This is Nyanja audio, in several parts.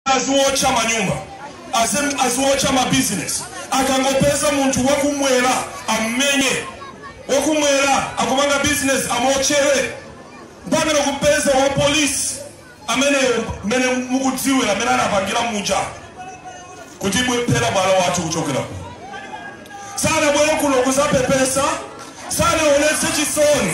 aziwotcha manyumba azem- aziwotcha mabizinesi akangopeza munthu wakumwera ammenye wakumwera akupanga bizinesi amotchere mpaka kupeza wa polisi ameneyo mmene mukudziwira mmene anapangira muja kuti bwephera bwalo wathu kuchokera kuno sanabwere kuno kuzapepesa sanaonetse chisoni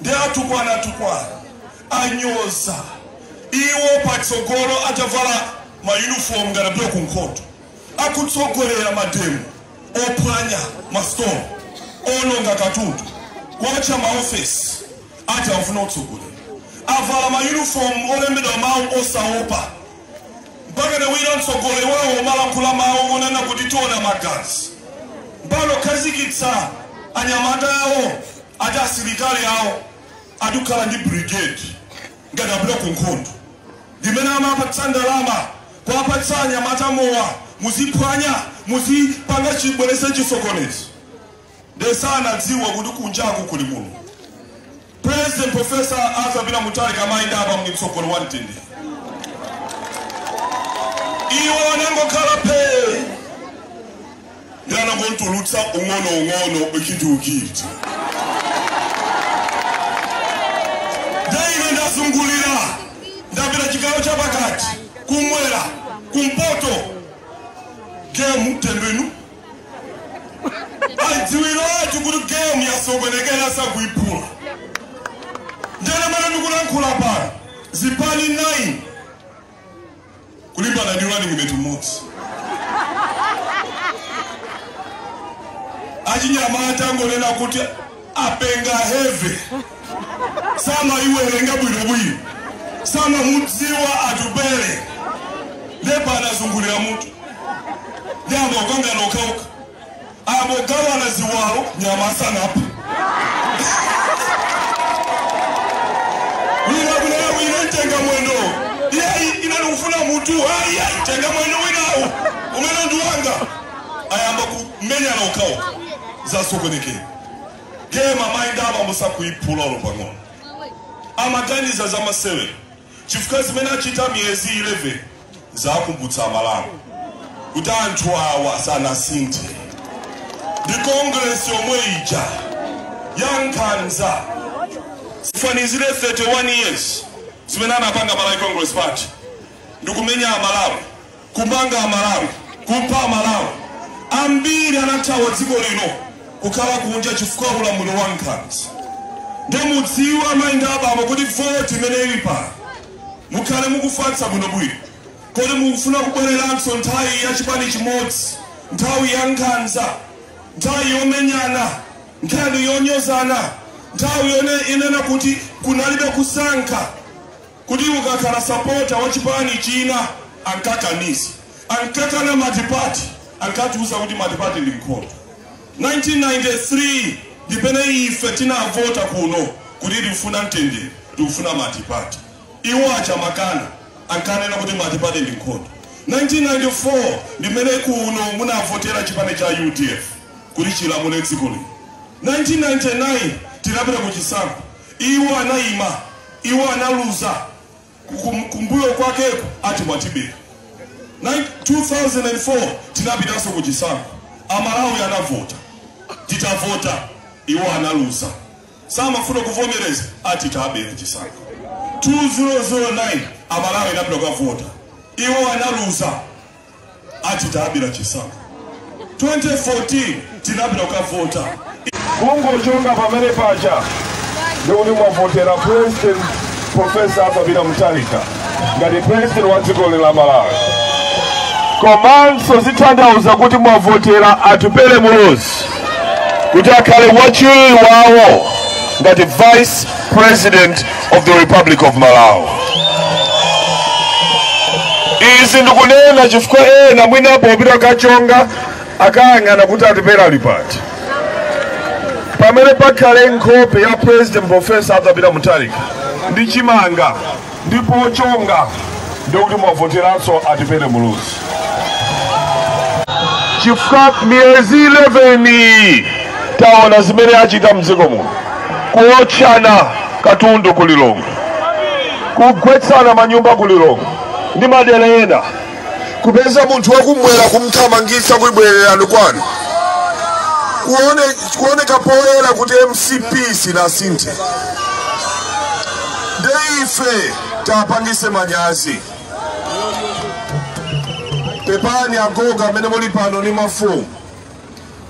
Nde atukwana atukwana anyoza iwo patsogolo atavala ma uniform ngati apita ku nkhondo. Akutsogolera mademo ophwanya ma store, oononga katundu, kuotcha ma office ati akufuna utsogoleri. Avala ma uniform olembedwa mau osaopa mpakana wina mtsogoleri wawo omalankhula mau onena kuti tiona magazi. Mpakana kukhazikitsa anyamata awo Ati asilikali awo ati kukhala ndi brigade ngati apita ku nkhondo ndimene amapatsa ndalama kuwapatsa anyamata mowa muziphwanya muzipanga chibwerese chisokonezo nde sanadziwa kuti kunjaku kuli mulungu president professor arthur peter mutharika amayenda apa muli mtsogoleri wa mtendere iwo anangokhala phee ndangotulutsa ung'onoung'ono chidikiti ndaine ndazungulira ndapita chigawo cha pakati kumwera kumpoto gemu tembenu aidziwiratu kuti gemu yasokonekera sakuiphula nde mmene ndikulankhula pano zipani 9 kulimbana ndi running mate mmodzi achinyamata angonena kuti apenga heve samaiwerenga bwinobwino samamudziwa atupele nde pano azungulira mutu ayamba kukangana okhaokha Akugawana ziwalo nyama sanaphe. Wina kunena wina ntenga mwendo. Iyayi ine ndikufuna mutu. Ayi ayi tenga mwendo winawo. Umenewo ndi wanga. Ayamba kumenyana okhaokha. Zasokonekera. Game amayi ndi abambo sakuyiphula olo pang'ono. Amaganiza za masewera. chifukwa zimene achita miyezi 11 zakumbutsa amalawi kuti anthu awa sanasinthe ndi kongresi yomwe ija ya nkhanza tifanizire 31 years zimene anapanga malawi congress party ndikumenya amalawi kumanga amalawi kupha amalawi ambiri anathawa dziko lino kukhala kunja chifukwa ulamuliro wa nkhanza nde mudziwe amayi ndi abambo kuti voti imene ili pano mukhale mukufatsa bwinobwino kodi mukufuna kubwereranso nthawi ya chipani chimodzi nthawi ya nkhanza nthawi yomenyana nkhani yonyozana nthawi yonena kuti kunalibe kusankha kuti ukakhala sapota wa chipani china ankakaniza, ankakana matipati, ankatiuza kuti matipati ndi nkhondo. 1993 ndi pamene ife tinavota kuno kuti tikufuna mtendere, tikufuna matipati. Iwo aja makana ankanena kuti matipati ndi nkhondo. 1994 ndimene kuno munavotera chipani cha udf kuti chilamule dziko lino. 1999 tinapita ku chisankho Iwo anaima, iwo analuza Kum- kumbuyo kwakeku ati mwatibera. Nine- 2004 tinapitanso ku chisankho, amalawi anavota, titavota iwo analuza, samafuna kuvomereza ati tabera chisankho. 2009 amalawi anapita kukavota, iwo analuza ati tabera chisankho 2014 tinapita kukavota kungochonga pamene paja ndikuti mwavotera president profesa arthur peter mutharika ngati president wa dziko lino la malawi komanso zitanthauza kuti mwavotera atupele muluzi kuti akhale wachiwiri wawo ngati vice president of the Republic of Malawi. Izi ndikunena chifukwa ena mwina popita kukachonga akayang'ana kuti Atupele ali pati pamene pakhale nkhope ya president profesa Arthur Peter Mutharika ndi chimanga ndipo pochonga ndikuti mwavoteranso Atupele Muluzi chifukwa miyezi 11 iyi taona zimene achita mdziko muno kuotchana katundu ku lilongwe kugwetsana manyumba ku lilongwe ndi madera ena kupeza munthu wakumwera kumthamangitsa kuti bwererani kwanu kuone, kuoneka poyera kuti mcp sinasinthe nde ife taapangitse manyazi pepani agogo amene muli pano ni mafumu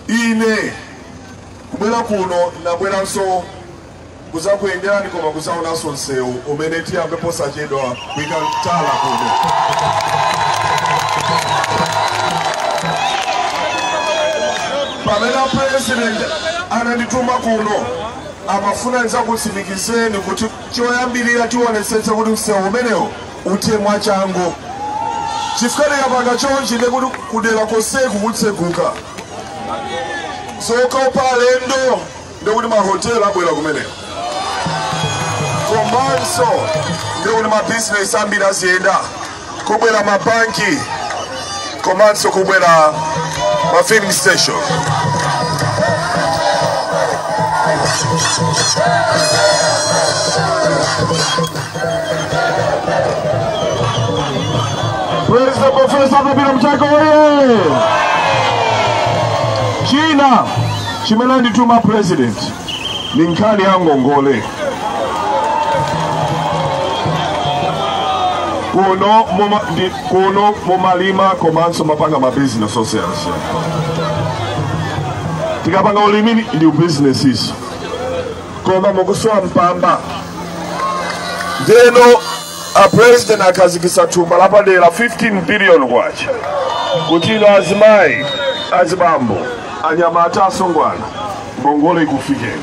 ine kubwera kuno nabweranso kuzakuyenderani koma kuzaonanso msewu umene tiyambe posachedwa kuika tala kuno pamene apresident anandituma kuno amafuna nizakutsimikizeni kuti Choyambirira tionetsetsa kuti msewu umenewo uthe mwachangu chifukwa tikapanga chonchi ndiye kuti kudera konseku kutseguka zokopa alendo ndiye kuti mahotela abwera kumeneko komanso ndiye kuti mabizinesi ambiri aziyenda kubwera mabanki komanso kubwera ma filling station President Profesa Arthur Mutharika oye! China chimene andituma president ni nkhani ya ngongole kuno mumalima komanso mapanga mabizinesi osiyanasiyana tikapanga ulimi ndi bizinesiso koma mukusowa mpamba ndeno A President akhazikitsa thumba lapadera 15 billion kwacha kuti inu azimayi, azibambo, anyamata, asungwana ngongole ikufikeni.